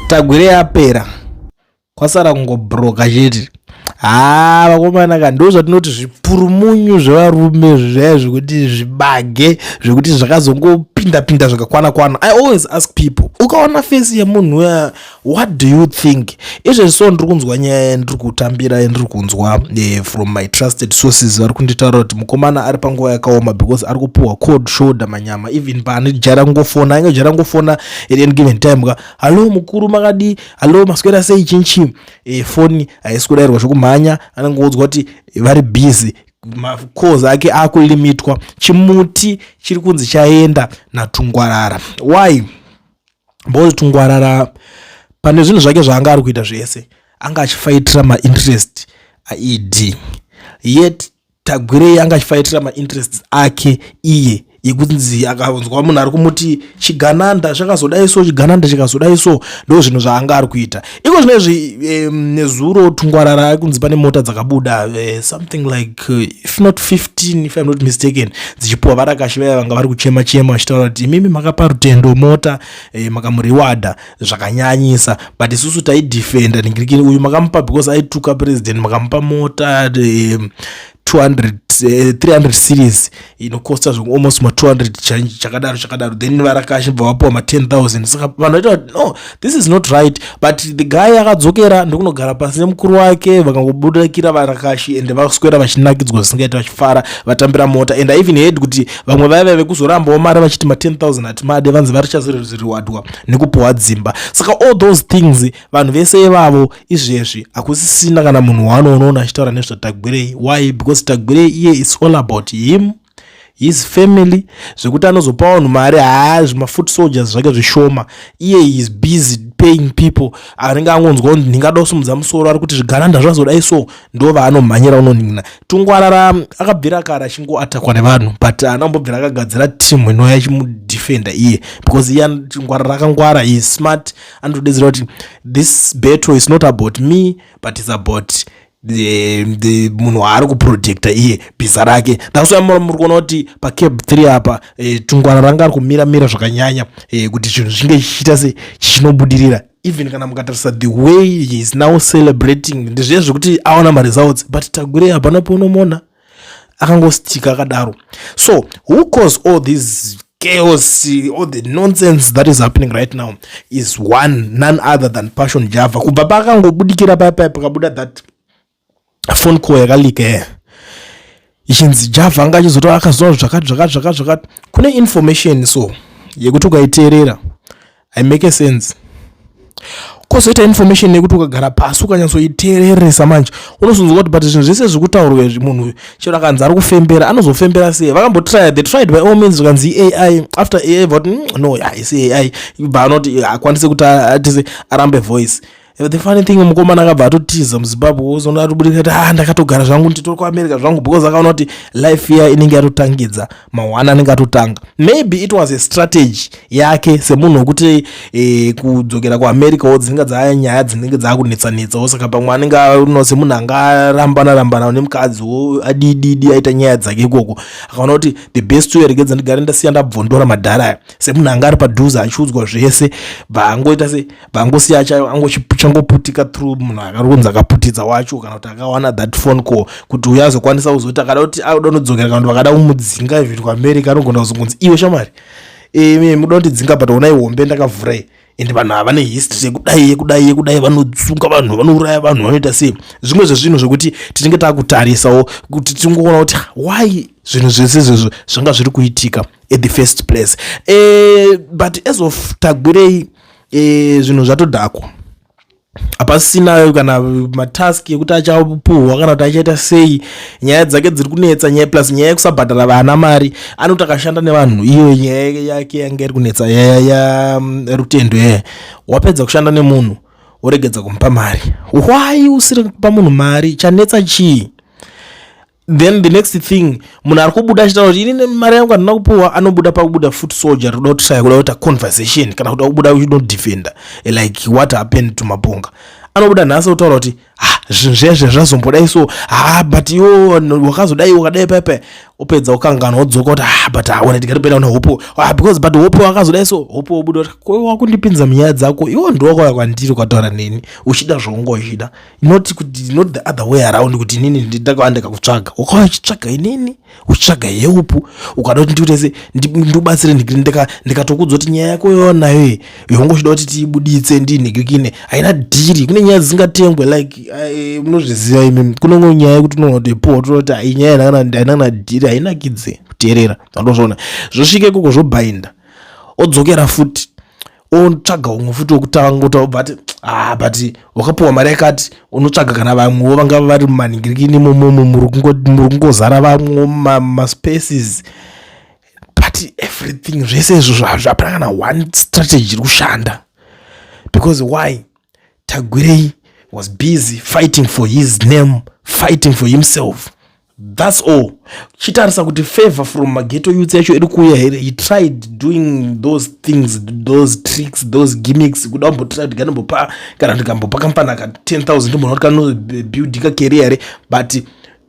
tagwire yapera kwasara kungobroka chete haa vakomana ka ndo zvatinoti zvipurumunyu zvevarume zvaya zvekuti zvibage zvekuti zvakazongopinda pinda zvakakwana kwana i always ask people ukaona fesi yemunhu uya what do you think izvezvi so ndiri kunzwa nyaya yandiri kutambira yandiri kunzwa eh, from my trusted sources vari kunditaura kuti mukomana ari panguva yakaoma because ari kupiwa cold shoulder manyama even paani jara kungofona ainge jara kungofona at any given time ka hallo mukuru makadii hallo maswera sei chinchi eh, foni haisi kudairwa zvekumhanya anenge kuudzwa kuti vari busy macalls ake akulimitwa chimuti chiri kunzi chaenda natungwarara why bolt ngwarara pane zvinhu zvake zvaanga ari kuita zvese anga achifaitira mainterest aed yet tagwirei anga achifaitira mainterest ake iye yekunzi akanzwa munhu ari kumuti chigananda chakazodai so chigananda chikazodai so ndo zvinhu zvaanga ari kuita iko zvino izvi um, nezuro tungwarara kunzi pane mota dzakabuda uh, something like uh, if not 15 if im not mistaken dzichipuwa varakashi vaya vanga vari kuchema chema vachitaura kuti imimi makapa rutendo mota uh, eh, makamuriwada zvakanyanyisa but isusu taidefenda ningirikini uyu makamupa because aituka president makamupa mota uh, 200 eh, 300 series inokosta zvoku almost ma 200 change chakadaro chakadaro then varakashi bva vapiwa ma 10000 saka vanhu vaita kuti no this is not right but the guy akadzokera ndokunogara pasi nemukuru wake vakangobudikira varakashi and vakuswera vachinakidzwa zvisingaita vachifara vatambira mota and i even heard kuti vamwe vaiva vekuzorambawo mari vachiti ma 10000 hatimade vanzi varichazoriwadwa nekupiwa dzimba saka all those things vanhu vese ivavo izvezvi hakusisina kana munhu waanoonoona achitaura nezvatagwirei why because tagwirei iye is all about him his family zvekuti anozopa vanhu mari haa zvimafoot soldiers zvake zvishoma iye is busy paying people anenge angonzwa kuti ndingada kusimudza musoro ari kuti zvigananda zvazodai so ndo vaanomhanyira unonina tungwarara akabvira kare achingo atakwa nevanhu but anambobvira akagadzira team inouya ichimudefenda iye because iye tungwarara akangwara is smart anotodedzera kuti this battle is not about me but is about the, the munhu waari kuprojecta iye bhiza rake thaswa muri kuona kuti pacab 3 apa e, tungwana ranga ari kumira mira zvakanyanya e, kuti chinhu zvinge chichiita se chichinobudirira even kana mukatarisa the way he is now celebrating ndizviye zvekuti aona maresults but tagure hapana paunomona akangostika akadaro so who cause all these chaos all the nonsense that is happening right now is one none other than passion java kubva paakangobudikira paya paya pakabuda that phone call yakalike eh. ichinzi java anga achizotaura akazoa zvakati zvakati zvakati zvakati kune information so yekuti ukaiteerera i make sense kozoita information yekuti ukagara pasi ukanyatsoiteereresa manje unozonzwa kuti but zvinhu zvese zvekutaurwa izvi munhu uyu chero akanzi ari kufembera anozofembera sei vakambotrya they tried by all means zvikanzi ai after ai vati mm, no haisi ai ibva anoti akwanise kuti atise arambe voice the funny thing mukomana akabva atotiza muzimbabwe ozoona atobudirira kuti ah ndakatogara zvangu nditori kuamerica zvangu because akaona kuti life iya inenge yatotangidza mahwana anenge atotanga maybe it was a strategy yake semunhu wekuti eh, kudzokera kuamerica wo dzinenge dzaya nyaya dzinenge dzaakunetsanetsa wo saka pamwe anenge no semunhu anga arambana rambana nemukadzi wo adididi aita nyaya dzake ikoko akaona kuti the best way regedza ndigare ndasiya ndabvondora madhara aya semunhu anga ari padhuze achiudzwa zvese bvaangoita se vangosiya chayo angochangoputika through munhu akaronzi akaputidza wacho kana kuti akawana that phone call kuti uyo azokwanisa kuzoti akada kuti auda unodzokera kana kuti vakada kumudzinga even kuamerica anogona kuzongonzi iwe shamwari e, muda kundidzinga but onai hombe ndakavhura iyi and vanhu ava vane history yekudai yekudai yekudai vanotsunga vanhu vanouraya vanhu vanoita sei zvimwe zvezvinhu zvekuti tinenge takutarisawo kuti tingoona kuti why zvinhu zvese izvozvo zvanga zviri kuitika at the first place e, but as of tagwirei e, zvinhu zvatodhakwa hapasina kana matask ekuti achapuhwa kana kuti achaita sei nyaya dzake dziri kunetsa nyaya plus nyaya yekusabhadhara vana mari anoti akashanda nevanhu iyo nyaya yake yanga iri kunetsa yaya yarutendo mm, yaya wapedza kushanda nemunhu woregedza kumupa mari why usiri kupa munhu mari chanetsa chii then the next thing munhu ari kubuda achitaura kuti inini mari yangu handina kupuwa anobuda pakubuda foot soldier toda kuti shaya kuda kuita conversation kana kuda kubuda uchinodefenda eh, like what happened to maponga anobuda nhasi kutaura kuti ha ah, zvinhu zvezve zvazombodai so ha ah, but iwo wakazodai wakadai pepe upedza ukanganwa wodzoka kuti ha ah, but haona tikatopenda una hope ha because but hope wakazodai so hope wobuda kuti ko wakundipinza munyaya dzako iwo ndiwakauya kwandiri ukataura neni uchida zvaunga uchida not kuti not the other way around kuti inini ndidakaanda kakutsvaga ukauya uchitsvaga inini uchitsvaga heupu ukada kuti ndikutese ndiubatsire ndikatokudza kuti nyaya yako yonayo iyi yongo uchida kuti tiibuditse ndinhikikine haina dhiri kune nyaya dzisingatengwe like eh, munozviziva imi kunongo nyaya yekuti unoona kuti po tonoti hai nyaya haina kana dhiri hainakidze kuteerera andozviona zvosvika ikoko zvobainda odzokera futi otsvaga umwe futi wokutanga otobva ati ah but wakapiwa mari yakati unotsvaga kana vamwewo vanga vari mumaningirikini imomomo muri kungozara vamwewo maspaces but everything zvese izvo hapana kana one strategy iri kushanda because why tagwirei was busy fighting for his name fighting for himself thats all chitarisa kuti favor from mageto youth yacho iri kuuya here he tried doing those things those tricks those gimmicks kuda kumbotira kuti kanombopa kana ndikambopa kampani aka 10 000 munhu kuti kanobuildi kakeria here but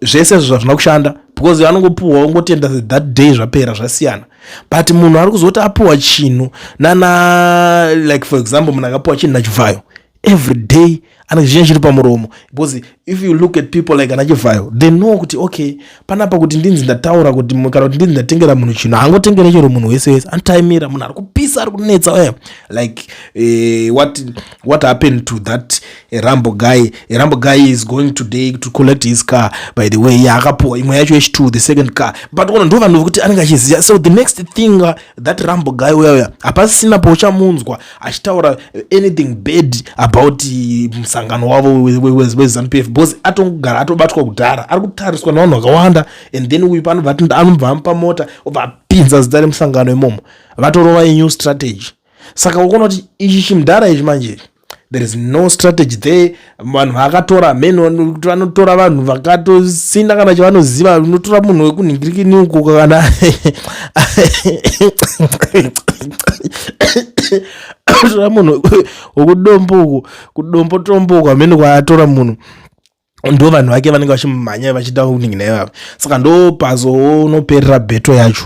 zvese izvo zvazvina kushanda because anongopuhwa ongotenda that day zvapera zvasiyana but munhu ari kuzoti apuhwa chinhu nana like for example munhu akapuhwa chinhu nachivhayo every day ane chizhinji chiri pamuromo because if you look at people like anachivhayo they know kuti okay panapa kuti ndinzi ndataura kuti kana kuti ndinzi ndatengera munhu chinhu haangotengere chero munhu wese wese anotayimira munhu ari kupisa ari kunetsa uya like uh, what, what happened to that eh, rambo guy eh, rambo guy is going today to collect his car by the way yaakapuwa imwe yacho h2 the second car but ono ndo vanhu vekuti anenge achiziva so the next thing uh, that rambo guy uya uya hapasisina pauchamunzwa achitaura anything bad about musangano wavo wezanupf we, we, bcause atongogara atobatwa kudhara ari kutariswa navanhu vakawanda and then uyu pano anobva amupa mota obva apinza zita remusangano imomo vatorova inew strategy saka ukona kuti ichi chimdhara ichi manje there is no strategy there vanhu vaakatora mhen vanotora vanhu vakatosina kana chavanoziva unotora munhu wekunhingirikini uko kana tora munhu wekudombo uko kudombo tombo uko amhene kwaatora munhu ndo vanhu vake vanenge vachimumhanya vachida kuningi naivavo saka ndo pazoonoperera beto yacho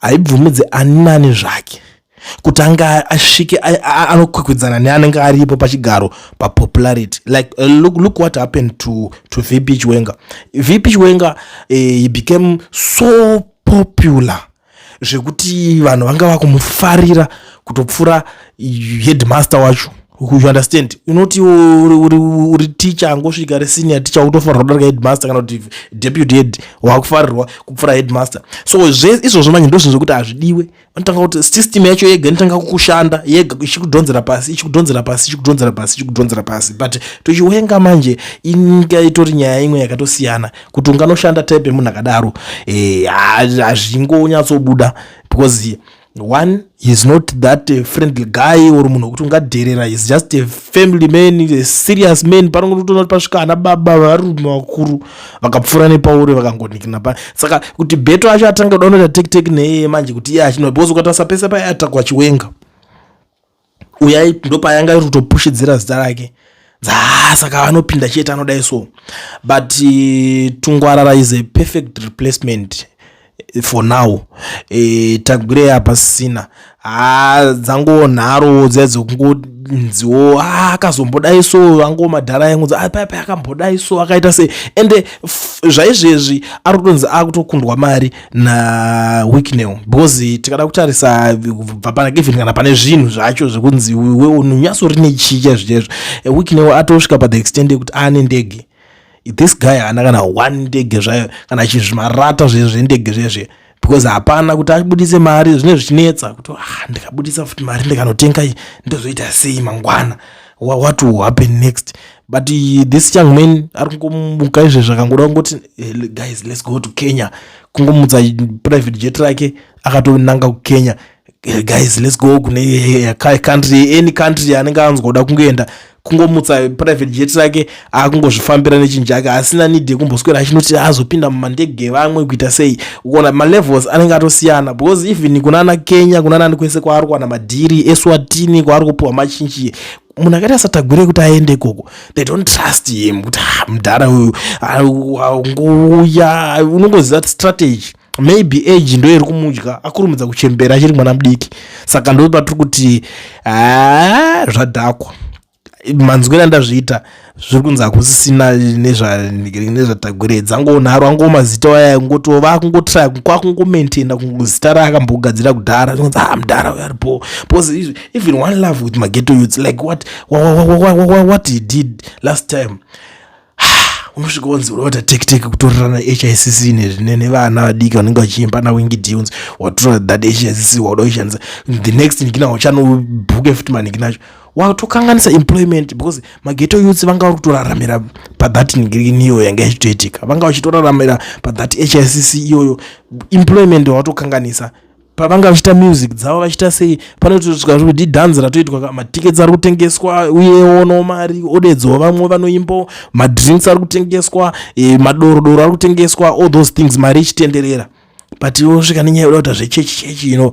haibvumidze ani nani zvake kuti ange asvike anokwikwidzana neanenge aripo pachigaro papopularity like uh, look, look what happened to, to vp chiwenga vp chiwenga uh, eh, he became so popular zvekuti vanhu vanga vakumufarira kutopfura headmaster wacho you understand unoti uri teacher angosvika ri senior teacher utofanirwa kudarika headmaster kana kuti deputy head wakufarirwa kupfura headmaster so zve izvozvo manje ndozvinhu zvekuti hazvidiwe vanotanga kuti system yacho yega inotanga kukushanda yega ichikudhonzera pasi ichikudhonzera pasi ichikudhonzera pasi ichikudhonzera pasi but tochiwenga manje inyika itori nyaya imwe yakatosiyana kuti unganoshanda type yemunhu akadaro eh, hazvingonyatsobuda because one he's not that uh, friendly guy or munhu wekuti ungadherera he's just a family man a serious man panongotoona kuti pasvika ana baba varume vakuru vakapfuura nepauri vakangonikina pa saka kuti beto acho atanga kuda unoita tekiteki neye manje kuti iye achinoa because ukatarisa pese paye atakwa chiwenga uyai ndopayanga iri kutopushidzira zita rake dzaa saka anopinda chete anodai so but uh, tungwarara is a perfect replacement for now e, tagwirei apa sisina haa dzango nharo dziya dzekungonziwo a akazombodai so ango madhara yangu paipai ah, akambodai so akaita se ende zvaizvezvi ari kutonzi akutokundwa mari nawicknel because tikada kutarisa kubva pana kevin kana pane zvinhu zvacho zvekunzi unonyatso rine chicha zvichezvo eh, wicknel atosvika pa the extend yekuti aane ndege this guy haana kana one ndege zvayo kana chizvimarata zve zvendege zvezve because hapana kuti abudise mari zvine zvichinetsa kuti ah, ndikabudisa futi mari ndikanotenga ndozoita sei mangwana Wha- what will happen next but uh, this young man ari kungomuka izve zvakangoda kungoti eh, le- guys let's go to kenya kungomutsa private jet rake akatonanga kukenya Eh, guys let's go kune eh, eh, ka- country any country anenge anzwa kuda kungoenda kungomutsa private jet rake akungozvifambira nechinjake asina need yekumboswera achinoti azopinda mumandege evamwe kuita sei ukona malevels anenge atosiyana because even kunana kenya kunanani kwese kwaari kuwana madhiri eswatini kwaari kupiwa machinji munhu akaita satagwire kuti aende ikoko they don't trust him kuti ah, mudhara uyu angouya unongoziva strategy maybe age ndo iri kumudya akurumidza kuchembera achiri mwana mudiki saka ndo patiri kuti ah, zvadhakwa manzwira andazviita zviri kunzi hakusisina nezvatagwire dzangonharwa ngo mazita waya ngoto vakungotira kwakungomaintaina zita raakambogadzira kudhara zvinonzi ha ah, mdhara uyo aripo bcause even one love with mageto youths like what, what, what, what, what he did last time unosvika wanzi unoita tektek kutorerana hicc nevana vadiki vanenge vachiimba nawingi dunes watora that hicc wauda kuishandisa the next nikina uchanobhuke futi manikinacho watokanganisa employment because mageto youths vanga vari kutoraramira pathat ngirini iyoyo yanga ichitoitika vanga vachitoraramira pathat hicc iyoyo employment watokanganisa pavanga vachiita music dzavo vachiita sei panotoitwa zvekuti dhanzi ratoitwa matickets ari kutengeswa uyewo no mari odedzawo vamwe vanoimbo madrinks ari kutengeswa e, madorodoro ari kutengeswa all those things mari ichitenderera but osvika nenyaya yoda kuita zvechechi chechi ino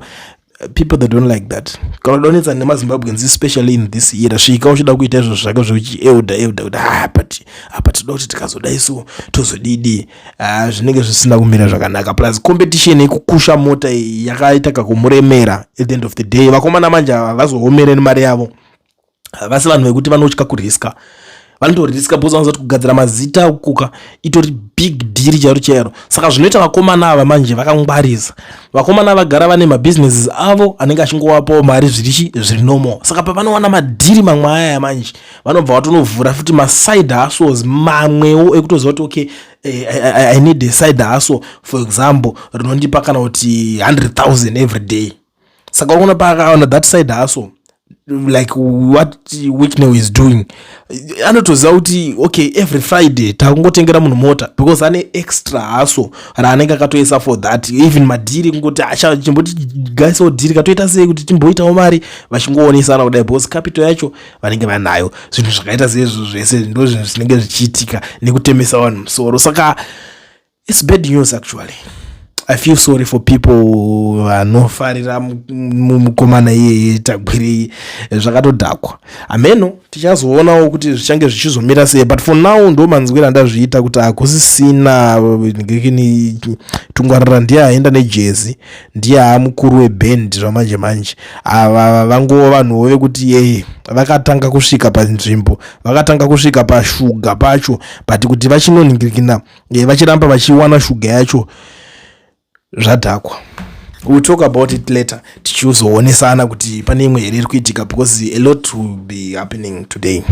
people that don't like that kana donetsa nemazimbabweans especially in this era svika uchida kuita izvo zvake zvekuti euda euda kuti ha ah, but apa ah, tinoda kuti tikazoda isu tozodidii uh, zvinenge zvisina kumira zvakanaka plus competition yekukusha mota iyi yakaita kakumuremera at the end of the day vakomana manje havazoomere nemari yavo havasi vanhu vekuti vanotya kuriska vanotoriska bcause vanozati kugadzira mazita kuka itori big dhiri chairo chairo saka zvinoita vakomana ava manje vakangwarisa vakomana vagara vane mabusinesses avo anenge achingowapawo mari zvirichi zviri normal saka pavanowana madhiri mamwe ayaya manje vanobva vatonovhura futi maside hustles mamwewo ekutoziva kuti okay eh, I, I, i need a side hustle for example rinondipa kana kuti 100000 every day saka unoona paakaona that side hustle like what wicknel is doing anotoziva kuti okay every friday takungotengera munhu mota because ane extra haso raanenge akatoisa for that even madhiri kungoti chimboti gaisawo dhiri katoita sei kuti timboitawo mari vachingoonesana kudai because capital yacho vanenge vanayo zvinhu zvakaita seizvo zvese ndo zvinhu zvinenge zvichiitika nekutemesa vanhu musoro saka its bad news actually i feel sorry for people vanofarira mukomana iyeye tagwirei zvakatodhakwa hameno tichazoonawo kuti zvichange zvichizomira sei but for now ndo manzwira ndazviita kuti hakusisina ngekini tungwarira ndiye aenda nejezi ndiye haa mukuru weband zvamanje manje ava vangova vanhuwo vekuti yeye vakatanga kusvika panzvimbo vakatanga kusvika pashuga pacho but kuti vachinoningirikina eh, vachiramba vachiwana shuga yacho zvadhakwa we'll talk about it later tichizoonesana kuti pane imwe here iri kuitika because a lot will be happening today